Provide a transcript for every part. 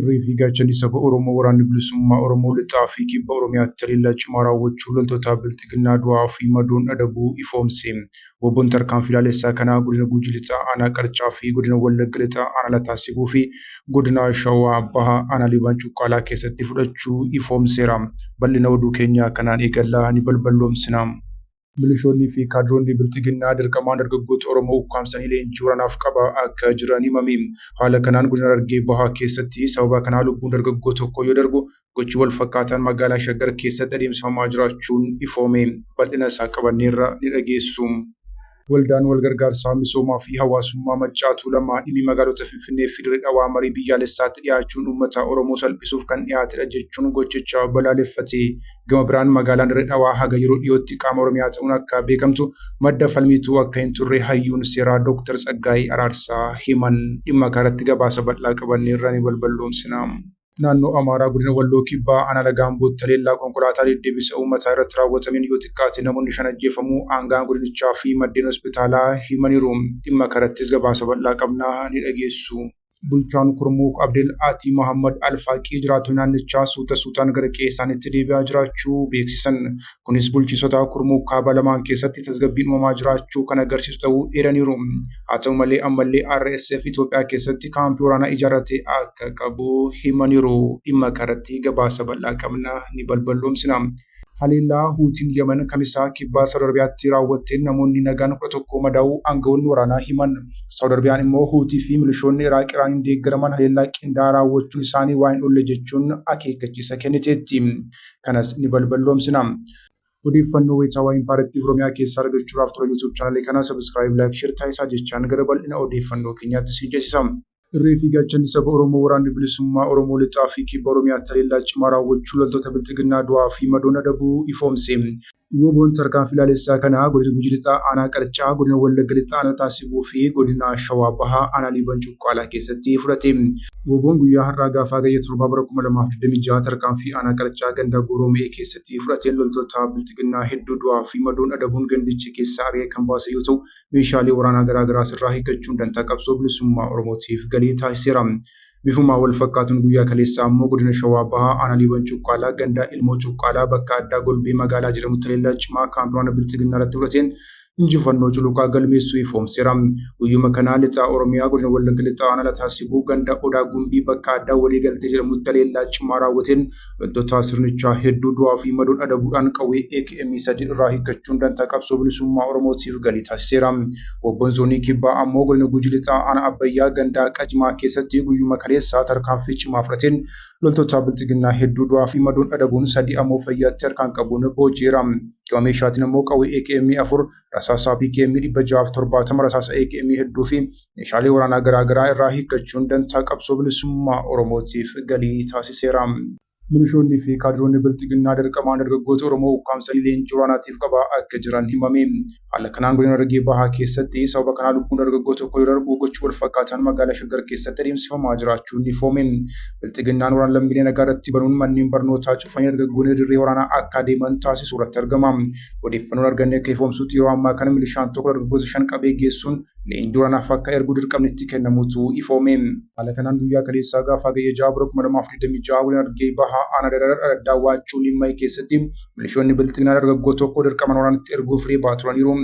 Irree fi gaachanni saba Oromoo Waraanni Bilisummaa Oromoo Lixaa fi Kibba Oromiyaatti haleellaa cimaa raawwachuu loltoota Bilxiginnaa du'aa fi madoon adabuu ifoomse. Wbon tarkaanfii laalessaa kana Godina Gujii Lixaa Aanaa Qarcaa fi Godina Wallagga Lixaa Aanaa Lataa Sibuu fi Godina Shawaa Bahaa Aanaa Liiban Cuqqaalaa keessatti fudhachuu ifoomseera. Bal'ina oduu keenyaa kanaan eegalla, ni balballoomsina. Milishoonnii fi kaadiroonni Bilxiginnaa dirqamaan dargaggoota Oromoo ukkaamsanii leenjii waraanaaf qabaa akka jiran himame. Haala kanaan Godina Harargee Bahaa keessatti sababa kanaa lubbuun dargaggoo tokkoo yoo darbu, gochi wal fakkaataan magaalaa Shaggar keessatti adeemsifamaa jiraachuun ifoome. Bal'ina isaa qabanneerra ni dhageessu. Waldaan Wal Gargaarsaa Misoomaa fi Hawaasummaa Maccaa Tuulamaa dhimmi magaalota Finfinnee fi Dirre Dhawaa marii biyyaalessaatti dhiyaachuun uummataa Oromoo salphisuuf kan dhiyaatedha jechuun gochicha balaaleffate. Gama biraan magaalaan Dirree Dhawaa haga yeroo dhiyootti qaama Oromiyaa ta'uun akka beekamtu madda falmiitu akka hin turre hayyuun seeraa Dooktar Tsaggaayee Araarsaa himan. Dhimma kanarratti gabaasa bal'aa qabanneerra ni balballoomsina. Naannoo Amaaraa Godina Walloo Kibbaa Aanaa Laga Ambootti haleellaa konkolaataa deddeebisa uummataa irratti raawwatameen yoo xiqqaate namoonni shan ajjeefamuu aanga'aan godinichaa fi maddeen hospitaalaa himaniiru. Dhimma kanarrattis gabaasa bal'aa qabna ni dhageessu. Bulchaan Kurmuuk Abdel Aatii Mahammad Alfaaqii jiraattonni naannichaa suuta suutaan gara qe'ee isaaniitti deebi'aa jiraachuu beeksisan. Kunis bulchiinsota Kurmuuk kaabaa lamaan keessatti tasgabbiin uumamaa jiraachuu kan agarsiisu ta'uu eeraniiru. Haa ta'u malee ammallee RSF Itoophiyaa keessatti kaampii waraanaa ijaarratee akka qabu himaniiru. Dhimma kanarratti gabaasa bal'aa qabna ni balballoomsina. Haleellaa Huutiin Yaman Kamisa Kibbaa Saawud Arabiyaatti raawwatteen namoonni nagaan kudha tokko madaa'uu aanga'oonni waraanaa himan. Saawud Arabiyaan immoo Huutii fi milishoonni Iraaq Iraaniin deeggaraman haleellaa qindaa'aa raawwachuun isaanii waa hin oolle jechuun akeekkachiisa kenniteetti. Kanas ni balballoomsina. Odeeffannoo wayitaawaa Impaara Tiv Oromiyaa keessaa argachuudhaaf tola YouTube channel kana subscribe, like, share taasisaa jechaan gara bal'ina odeeffannoo keenyaatti isin ceesisa. Irree fi gaachanni saba Oromoo Waraanni Bilisummaa Oromoo Lixaa fi Kibba Oromiyaatti haleellaa cimaa raawwachuu loltoota Bilxiginnaa du'aa fi madoon adabuu ifoomse. WBOn tarkaanfii laalessaa kana Godina Gujii Lixaa Aanaa Qarcaa, Godina Wallagga Lixaa Anotaa Sibuu fi Godina Shawaa Bahaa Aanaa Liiban Cuqqaalaa keessatti fudhate. WBOn guyyaa har'aa gaafa Hagayya 7 bara 2026 tarkaanfii Aanaa Qarcaa ganda Gooroo Me'ee keessatti fudhateen loltoota Bilxiginnaa hedduu du'aa fi madoon adabuun gandicha keessaa ari'ee kan baase yoo ta'u, meeshaalee waraanaa garaa garaas irraa hiikkachuun dantaa qabsoo bilisummaa Oromootiif galii taasiseera. Bifuma wal fakkaatuun guyyaa kaleessaa ammoo godina Shawaa Bahaa aanaa Liiban Cuqqaalaa ganda Ilmoo Cuqqaalaa bakka addaa Golbee Magaalaa jedhamutti haleellaa cimaa kaampii waraana Bilxiginnaa irratti fudhateen injifannoo culuqaa galmeessuu ifoomseera. Guyyuma kana Lixa Oromiyaa godina Wallagga Lixaa aanaa Lataa Sibuu ganda Odaa Gumbii bakka addaa Waliigaltee jedhamutti haleellaa cimaa raawwateen Loltoota sirnichaa hedduu du'aa fi madoon adabuudhaan qawwee AKM sadii irraa hiikkachuun dantaa qabsoo bilisummaa Oromootiif galii taasiseera. Wobboon Zoonii Kibbaa ammoo godina Gujii Lixaa Aanaa Abbayyaa gandaa Qajimaa keessatti guyyuma kaleessaa tarkaanfii cimaa fudhateen loltoota Bilxiginnaa hedduu du'aa fi madoon adabuun sadii ammoo fayyaatti harkaan qabuun booji'eera. Gama meeshaatiin ammoo qawwee AKM afur, rasaasaa PKM 670 rasaasa AKM hedduu fi meeshaalee waraanaa garaagaraa irraa hiikkachuun dantaa qabsoo bilisummaa Oromootiif galii taasiseera. Milishoonni fi kaadiroonni bilxiginnaa dirqamaan dargaggoota Oromoo ukkaamsanii leenjii waraanaatiif qabaa akka jiran himame. Haala kanaan godina Harargee Bahaa keessatti sababa kanaa lubbuun dargaggoo tokko yoo darbu gochi wal fakkaataan magaalaa Shaggar keessatti adeemsifamaa jiraachuun ni foome. Bilxiginnaan waraana lammiilee nagaa irratti banuun manneen barnootaa cufanii dargaggoonni dirree waraanaa akka adeeman taasisuu irratti argama. Odeeffannoon arganne akka ifoomsutti yeroo ammaa kana milishaan tokko dargaggoota shan qabee geessuun leenjii waraanaaf akka ergu dirqamni itti kennamuutu ifoome. Haala kanaan guyyaa kaleessaa gaafa Hagayya 6 bara 2026 Godina Harargee Bahaa Aanaa Daraar Araddaa Waachuu Limmay keessatti milishoonni Bilxiginaa dargaggoo tokko dirqamaan waraanatti erguuf reebaa turaniiru.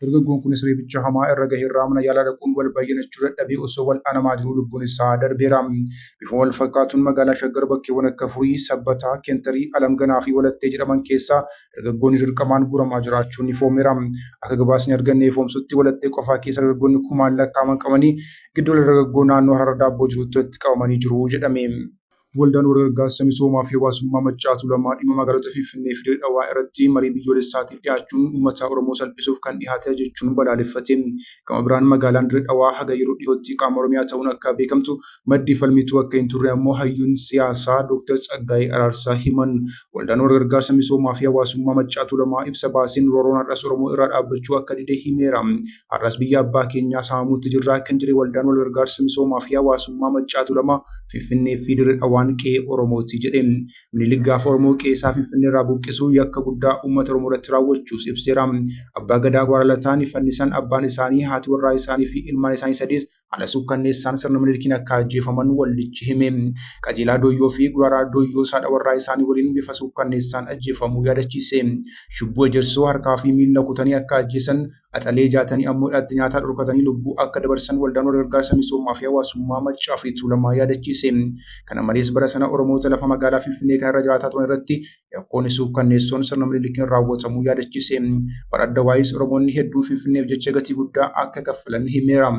Dargaggoon kunis reebicha hamaa irra gaheerraa mana yaalaa dhaquun wal bayyanachuu dadhabee osoo wal'aanamaa jiruu lubbuun isaa darbeera. Bifuma wal fakkaatuun magaalaa Shaggar bakkeewwan akka Furii, Sabbataa, Kentarii, Alamganaa fi Walattee jedhaman keessaa dargaggoonni dirqamaan guuramaa jiraachuun ifoomeera. Akka gabaasni arganne ifoomsutti walattee qofaa keessa dargaggoonni kumaan lakkaa'aman qabanii giddugala dargaggoo naannoo Hararra Daabboo jirutti walitti qabamanii jiru jedhame. Waldaan Walgargaarsa Misoomaa fi Hawaasummaa Maccaa Tuulamaa dhimma magaalota Finfinnee fi Dirree Dhawaa irratti marii biyyoolessaatiif dhiyaachuun uummataa Oromoo salphisuuf kan dhihaatedha jechuun balaaleffate. Gama biraan magaalaan Dirree Dhawaa haga yeroo dhihootti qaama Oromiyaa ta'uun akka beekamtu Maddii falmituu akka hin turre ammoo hayyuun siyaasaa Dooktar Tsaggaayee Araarsaa himan. Waldaan Walgargaarsa Misoomaa fi Hawaasummaa Maccaa Tuulamaa ibsa baaseen roorroon har'as Oromoo irraa dhaabbachuu akka dide himeera. Har'as biyya abbaa keenyaa saamamuutti jirra kan jedhe Waldaan Walgargaarsa Misoomaa fi Hawaasummaa Maccaa Tuulamaa, Finfinnee fi Dirre Dhawaan qe'ee Oromooti jedhe. Minilik gaafa Oromoo qe'ee isaa Finfinnee irraa buqqisu yakka guddaa uummata Oromoo irratti raawwachuus ibseera. Abbaa Gadaa Abaara Lataa ni fannisan, abbaan isaanii, haati warraa isaanii fi ilmaan isaanii sadiis Haala suukkanneessaan sirna Minilikiin akka ajjeefaman waldichi hime. Qajeelaa Dooyyoo fi Guraaraa Dooyyoo saadha warraa isaanii waliin bifa suukkanneessaan ajjeefamuu yaadachiise. Shubbuu Ejersoo harkaa fi miilla kutanii akka ajjeesan, Axalee Jaatanii ammoo hidhaatti nyaataa dhorkatanii lubbuu akka dabarsan Waldaan Walgargaarsa Misoomaa fi Hawaasummaa Maccaa fi Tuulamaa yaadachiise. Kana malees bara sana Oromoota lafa magaalaa Finfinnee kana irra jiraataa turan irratti Yakkoonni suukkanneessoon sirna Minilikiin raawwatamuu yaadachiise. Bara Addawaayis Oromoonni hedduun Finfinneef jecha gatii guddaa akka kaffalan himeera.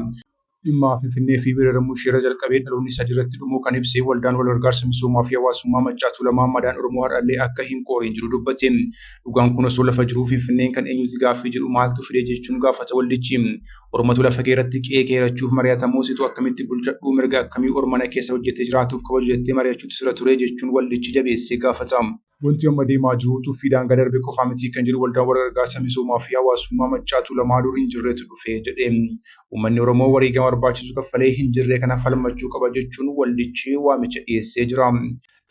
Dhimma Finfinnee fi weeraramuu ishee irra jalqabee dhaloonni sadii irratti dhumuu kan ibse Waldaan Walgargaarsa Misoomaa fi Hawaasummaa Maccaa Tuulamaa madaan Oromoo har'allee akka hin qooriin jiru dubbate. Dhugaan kun osoo lafa jiruu Finfinneen kan eenyuuti gaaffii jedhu maaltu fide jechuun gaafata waldichi. Ormatu lafa kee irratti qe'ee kee hirachuuf mari'atamoo situ akkamitti bulchadhuu mirga akkamii ormana keessa hojjetee jiraatuuf kabaju jettee mari'achuutti sirra turee jechuun waldichi jabeessee gaafata. Wanti amma deemaa jiru tuffii daangaa darbe qofaa miti kan jedhu waldaan warra gargaarsa misoomaa fi hawaasummaa Maccaa Tuulamaa dur hin jirretu dhufe jedhe. Uummanni Oromoo wareegama barbaachisu kaffalee hin jirree kana falmachuu qaba jechuun waldichi waamicha dhiyeessee jira.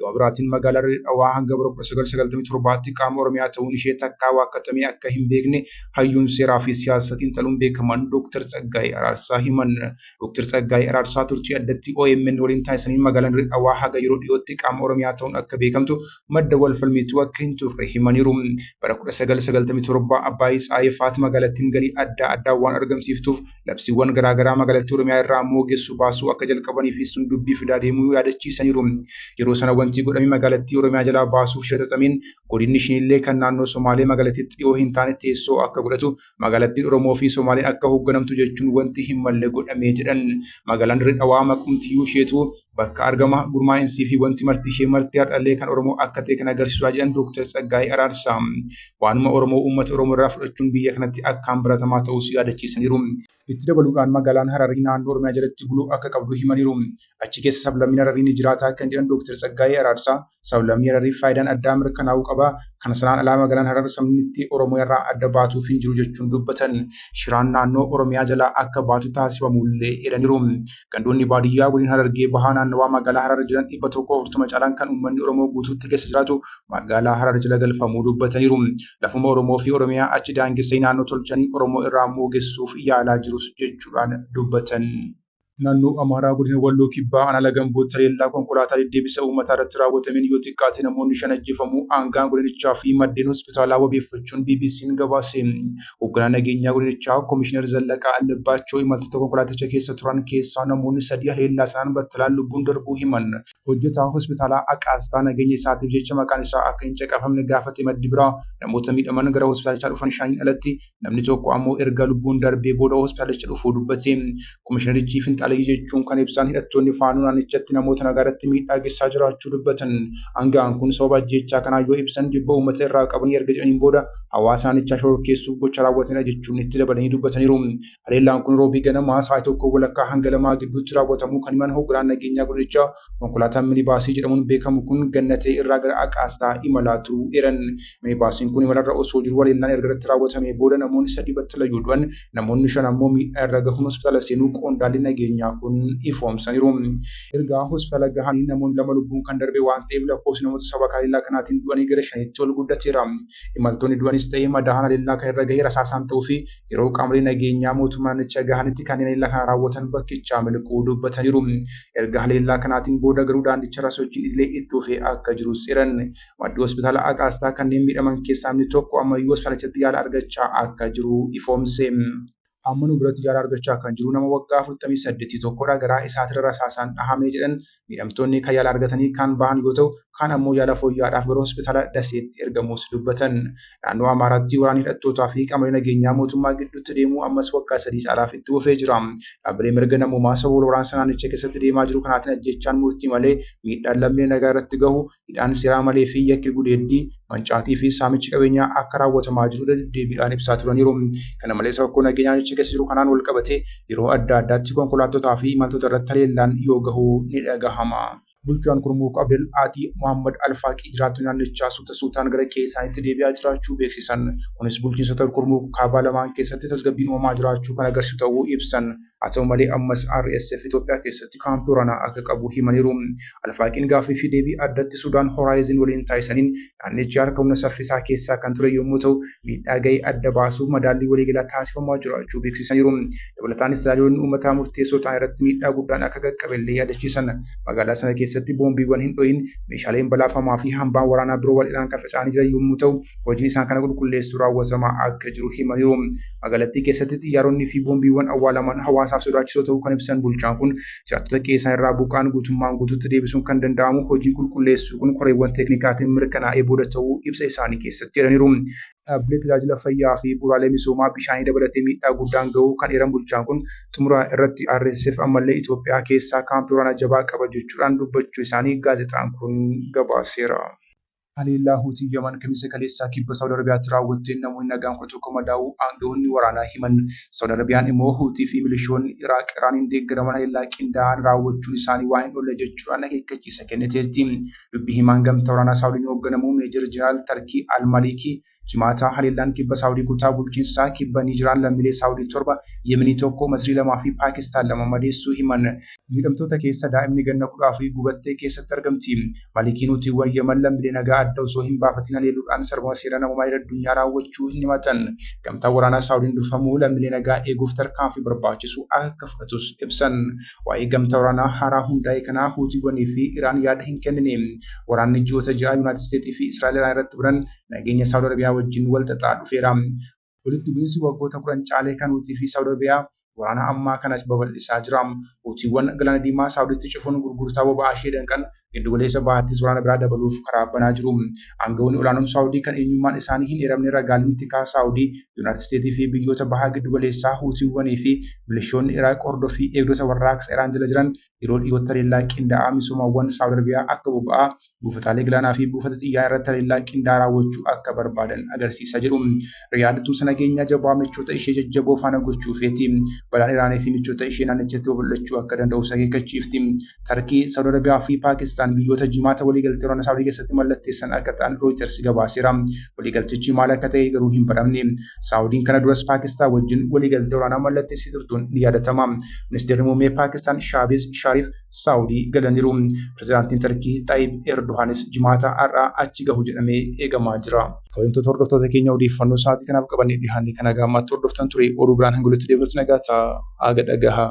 Gama biraatiin magaalaa Dirree Dhawaa hanga bara 1997tti qaama Oromiyaa ta'uun ishee takkaa waakkatamee akka hin beekne hayyuun seeraa fi siyaasa xiinxaluun beekaman Dooktar Tsaggaayee Araarsaa himan. Dooktar Tsaggaayee Araarsaa turtii addatti omn waliin taasisaniin magaalaan Dirree Dhawaa haga yeroo dhiyootti qaama Oromiyaa ta'uun akka beekamtu madda wal falmiituu akka hin turre himaniiru. Bara 1997 Abbaay Tsaayee faati magaalattiin galii addaa addaa waan argamsiiftuuf labsiiwwan garaagaraa magaalattii Oromiyaa irraa ammoo ogeessu baasuu akka jalqabanii fi sun dubbii fidaa deemuu yaadachiisaniiru. Yeroo sana wanti godhame magaalattii Oromiyaa jalaa baasuuf shira xaxameen godinni shinillee kan naannoo Somaalee magaalattiitti dhiyoo hin taane teessoo akka godhatu magaalattiin Oromoo fi Somaaleen akka hoogganamtu jechuun wanti hin malle godhamee jedhan. Magaalaan Dirree Dhawaa maqumtiyyuu isheetu Bakka argama gurmaa'insii fi wanti marti ishee marti har'allee kan Oromoo akka ta'e kan agarsiisudha jedhan Dooktar Tsaggaayee Araarsaa. Waanuma Oromoo uummata Oromoo irraa fudhachuun biyya kanatti akkaan baratamaa ta'uus yaadachiisaniiru. Itti dabaluudhaan magaalaan Hararii naannoo Oromiyaa jalatti buluu akka qabdu himaniiru. Achi keessa sablammiin Hararii ni jiraata kan jedhan Dooktar Tsaggaayee Araarsaa, Sablammii Harariif faayidaan addaa mirkanaa'uu qaba. Kana sanaan alaa magaalaan Harar sabnitti Oromoo irraa adda baatuuf hin jiru jechuun dubbatan. Shiraan naannoo Oromiyaa jalaa akka baatu taasifamuullee eeraniiru. Gandoonni baadiyyaa godina Harargee Bahaa naannawaa magaalaa Harar jiran 140 caalaan kan uummanni Oromoo guutuutti keessa jiraatu magaalaa Harar jala galfamuu dubbataniiru. Lafuma Oromoo fi Oromiyaa achi daangessanii naannoo tolchanii Oromoo irraa moogessuuf yaalaa jirus jechuudhaan dubbatan. Naannoo Amaaraa Godina Walloo Kibbaa Aanaa Lagambootti haleellaa konkolaataa deddeebisa uummataa irratti raawwatameen yoo xiqqaate namoonni shan ajjeefamuu aangaan godinichaa fi maddeen hospitaalaa wabeeffachuun BBC'n gabaase. Hogganaan nageenyaa godinichaa Komishinar Zallaqaa Allabbaachoo imaltoota konkolaaticha keessa turan keessaa namoonni sadii haleellaa sanaan battalaan lubbuun darbuu himan. Hojjetaa hospitaalaa Aqaastaa nageenya isaatiif jecha maqaan isaa akka hin caqafamne gaafate maddi biraa namoota miidhaman gara hospitaalichaa dhufan shaniin alatti Namni tokko ammoo erga lubbuun darbee booda hospitaalicha dhufuu dubbate. Komishinarichi finxaaleyyii jechuun kan ibsaan hidhattoonni faanoo naannichatti namoota nagaarratti miidhaa geessaa jiraachuu dubbatan. Aanga'aan kun sababa ajjeechaa kanaa yoo ibsan jibba uummata irraa qabanii erga jedhaniin booda hawaasa naannichaa shororkeessuuf gocha raawwatanidha jechuun itti dabalanii dubbataniiru. Haleellaan kun roobii ganamaa sa'aatii tokkoo walakkaa hanga lamaa gidduutti raawwatamuu kan himan hogganaan nageenyaa godinichaa konkolaataan minibaasii jedhamuun beekamu kun Gannatee irraa gara Aqaastaa imalaa turuu eeran. Mee baasiin kun imalarra osoo jiru haleellaan erga irratti raawwatamee booda namoonni sadii battalayyuu du'an namoonni shan ammoo miidhaa irra gahuun hospitaala seenuu qondaalli nageenyaa kun ifoomsaniiru. Erga hospitaala gahanii namoonni lama lubbuun kan darbe waan ta'eef lakkoofsi namoota sababa haleellaa kanaatiin du'anii gara shaniitti ol guddateera. Imaltoonni du'anis ta'ee madaa'an haleellaa kan irra gahe rasaasaan ta'uu fi yeroo qaamolee nageenyaa mootummaa naannicha gahanitti kanneen haleellaa kana raawwatan bakkichaa miliquu dubbataniiru. Erga haleellaa kanaatiin booda garuu daandicharra sochiin idilee itti fufee akka jirus eeran. Maddii hospitaala Agaastaa kanneen miidhaman keessaa namni tokko ammayyuu hospitaalichatti yaala argachaa akka jiru ifoomse. Amma nu biratti yaala argachaa kan jiru nama waggaa 48 tokkodha. Garaa isaatirra rasaasaan dhahame jedhan. Miidhamtoonni kan yaala argatanii kaan bahan yoo ta'u, kaan ammoo yaala fooyya'aadhaaf gara hospitaala Daseetti ergamuus dubbatan. Naannoo Amaaraatti waraanni hidhattootaa fi qaamolee nageenyaa mootummaa gidduutti deemu ammas waggaa sadii caalaaf itti fufee jira. Dhaabbilee mirga namoomaa sababa wal waraansa naannicha keessatti deemaa jiru kanaatiin ajjeechaan murtii malee miidhaan lammiilee nagaa irratti gahu hidhaan seeraa malee fi yakki gudeeddii, mancaatii fi saamichi qabeenyaa akka raawwatamaa jiru irra deddeebiidhaan ibsaa turaniiru. Kana malees rakkoo nageenyaa naannicha keessa jiru kanaan wal qabatee yeroo adda addaatti konkolaattotaa fi imaltoota irratti haleellaan yoo gahu ni dhagahama. Bulchaan Kurmuuk Abdel Ati Mohaammad Al Faaqii jiraattonni naannichaa suuta suutaan gara qe'ee isaaniitti deebi'aa jiraachuu beeksisan. Kunis bulchiinsota Kurmuuk kaabaa lamaan keessatti tasgabbiin uumamaa jiraachuu kan agarsiisu ta'uu ibsan. Haa ta'u malee ammas RSF Itoophiyaa keessatti kaampii waraanaa akka qabu himaniiru. Alfaaqiin gaaffii fi deebii addatti Sudaan Horaayizin waliin taasisaniin naannichi harka humna saffisaa keessaa kan ture yommuu ta'u, miidhaa ga'e adda baasuuf madaallii waliigalaa taasifamaa jiraachuu beeksisaniiru. Dabalataanis tajaajiloonni uummataa murteessoo ta'an irratti miidhaa guddaan akka qaqqabe illee yaadachiisan. Magaalaa sana keessatti boombiiwwan hin dho'iin, meeshaaleen balaafamaa fi hambaan waraanaa biroo bal'inaan kan faca'anii jiran yommuu ta'u, hojiin isaan kana qulqulleessuu raawwatamaa akka jiru himaniiru. Magaalattii keessatti xiyyaaronnii fi boombiiwwan awwaalaman hawaasaaf sodaachisoo ta'uu kan ibsan bulchaan kun jiraattota qe'ee isaan irraa buqqa'an guutummaan guutuutti deebisuun kan danda'amu hojiin qulqulleessuu kun koreewwan teeknikaatiin mirkanaa'ee booda ta'uu ibsa isaanii keessatti jedhaniiru. Dhaabbilee tajaajila fayyaa fi bu'uuraalee misoomaa bishaanii dabalatee miidhaa guddaan ga'uu kan eeran bulchaan kun xumura irratti RSF ammallee Itoophiyaa keessaa kaampii waraanaa jabaa qaba jechuudhaan dubbachuu isaanii gaazexaan kun gabaaseera. Haleellaa Huutiin Yaman Kamisa kaleessaa Kibba Saawud Arabiyaatti raawwatteen namoonni nagaan 11 madaa'uu aanga'oonni waraanaa himan. Saawud Arabiyaan immoo Huutii fi milishoonni Iraaq Iraaniin deeggaraman haleellaa qindaa'aan raawwachuun isaanii waa hin oolle jechuudhaan akeekkachiisa kenniteerti. Dubbi himaan gamtaa waraanaa Saawudiin hoogganamu Meejar Jeneraal Tarkii Al-Maliikii Jimaata haleellaan kibba Saawudii kutaa bulchiinsa kibba Niijiraan lammiilee Saawudii torba, Yemenii tokko, Masrii lamaa fi Paakistaan lama madeessuu himan. Miidhamtoota keessa daa'imni ganna kudha afurii gubattee keessatti argamti. Malikii Nuutiiwwan Yemen lammiilee nagaa adda osoo hin baafatiin haleeluudhaan sarbama seera namoomaa idil addunyaa raawwachuu hin himatan. Gamtaan waraanaa Saawudiin durfamu lammiilee nagaa eeguuf tarkaanfii barbaachisu akka fudhatus ibsan. Waa'ee gamtaa waraanaa haaraa hundaa'e kanaa Huutiiwwanii fi Iraan yaada hin kennine. Waraanni ji'oota ja'a Yunaayitid Isteetii fi Israa'el Iraan irratti banan nageenya Saawud Arabiyaa wajjin wal xaxaa dhufeera. Walitti bu'iinsi waggoota kudhan caalee kan Huutii fi Saawud Arabiyaa waraana ammaa kana babal'isaa jira. Huutiiwwan Galaana Diimaa Saawuditti cufuun gurgurtaa boba'aa ishee danqan, Giddugaleessa Bahaattis waraana biraa dabaluuf karaa banaa jiru. Aangawoonni olaanoon Saawudii kan eenyummaan isaanii hin eeramne ragaaleen tikaa Saawudii, Yuunaayitid Isteetii fi biyyoota Baha Giddugaleessaa Huutiiwwanii fi milishoonni Iraaq hordoffii eegdota warraaqsa Iraan jala jiran yeroo dhiyootti haleellaa qindaa'aa misoomawwan Saawud Arabiyaa akka boba'aa, buufataalee galaanaa fi buufata xiyyaaraa irratti haleellaa qindaa'aa raawwachuu akka barbaadan agarsiisa jedhu. Riyaad tumsa nageenyaa jabaa michoota ishee jajjaboo faana gochuu feeti. Balaan Iraanii fi michoota ishee naannichatti babal'achuu akka danda'us akeekkachiifti. Tarkii, Saawud Arabiyaa fi Paakistaan biyyoota jimaata waliigaltee waraana Saawudii keessatti mallatteessan akka ta'an Rooyiters gabaaseera. Waliigaltichi maal akka ta'e garuu hin baramne. Saawudiin kana duras Paakistaan wajjin waliigaltee waraanaa mallatteessee turtuun ni yaadatama. Ministeerri muummee Paakistaan Shaabeez Shaariif Saawudii galaniiru. Pirezidaantiin Tarkii Xaayib Erdohaanis jimaata har'aa achi gahu jedhamee eegamaa jira. Kabajamtoota hordoftoota keenya odeeffannoo sa'aatii kanaaf qabannee dhiyaanne kana gaammaatti hordoftan ture oduu biraan hanga walitti deebinutti nagaa ta'aa aga dhagahaa.